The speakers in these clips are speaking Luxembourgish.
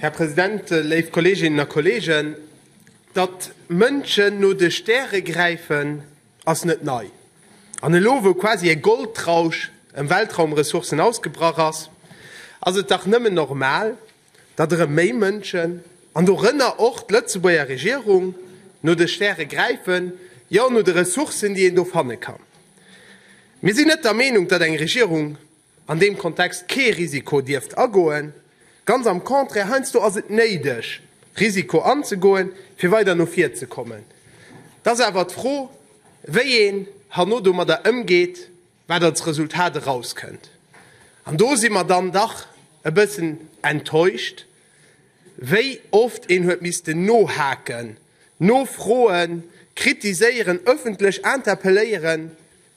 Här President, léif Kolleeginnen a Kolleegen, datt Mënschen no de Stäre gräifen, ass net nei. An elo, wou quasi e Goldrausch ëm Weltraumressourcen ausgebrach ass, ass et dach nëmmen normal, datt erëm méi Mënschen, an dorënner och d'Lëtzebuerger Regierung, no de Stäre gräifen, jo, no de Ressourcen, déi een do fanne kann. Mir sinn net der Meenung, datt eng Regierung an deem Kontext kee Risiko dierft agoen, ganz am Contraire, heiansdo ass et néideg, Risiko anzegoen, fir weider no vir ze kommen. Et ass awer d'Fro, wéi een herno domadder ëmgeet, wat als Resultat erauskënnt. An do si mer dann dach e bëssen enttäuscht, wéi oft een huet missten nohaken, nofroen, kritiséieren, öffentlech interpelléieren,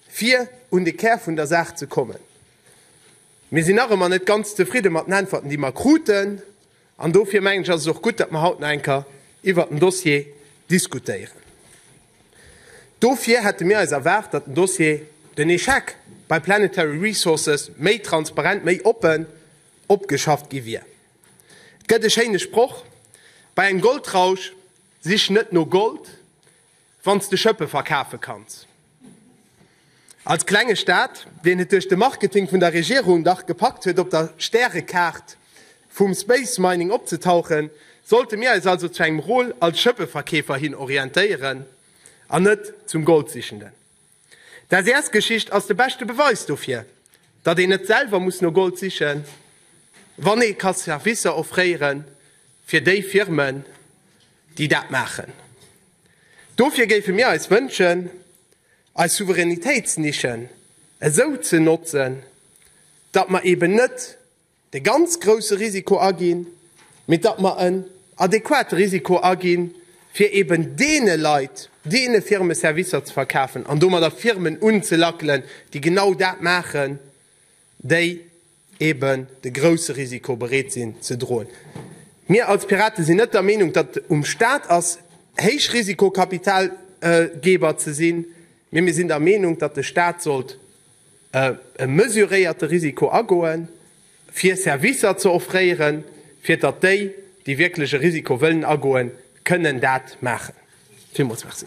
Fir un de Kär vun der Saach ze kommen, Mir sinn nach ëmmer net ganz zefridde mat den Äntwerten, déi mer kruten. An dofir mengen ech, ass et och gutt, datt mer haut nach eng Kéier iwwert den Dossier diskutéieren. Dofir hätte mir eis erwaart, datt den Dossier, den Échec bei Planetary Resources méi transparent, méi oppen opgeschafft gi wier. Et gëtt e schéine Sproch, Bei engem Goldrausch sich net no Gold. Wann s de Schëppe verkafe kanns. Als klenge Staat, deen et duerch de Marketing vun der Regierung dach gepackt huet op der Stärekaart vum Space Mining opzetauchen, sollte mir eis also zu engem Rôle als Schëppeverkeefer hin orientéieren an net zum Goldsichenden. D'SES-Geschicht ass de beschte Beweis dofir, datt een net selwer muss no Gold sichen, wann ee ka Servicer offréiere fir déi Firmen, déi dat maachen. Dofir géife mir eis wënschen, eis Souveränitéitsnischen esou ze notzen, datt mer eben net, de ganz grousse Risiko aginn, mee datt mer en adequate Risiko aginn, fir eben deene Leit, deene Firme Servicer ze verkafen an domadder Firmen unzelackelen, déi genau dat maachen, déi eben de grousse Risiko bereet sinn ze droen. Mir als Piraten sinn net der Meenung, datt um Stat ass, Héichrisikokapitalgeber ze sinn, mee mir sinn der Meenung, datt de Stat sollt, e mesuréierte Risiko agoen, fir Servicer ze offréieren, fir datt déi, déi wierklech e Risiko wëllen agoen, kënnen dat maachen. Villmools Merci.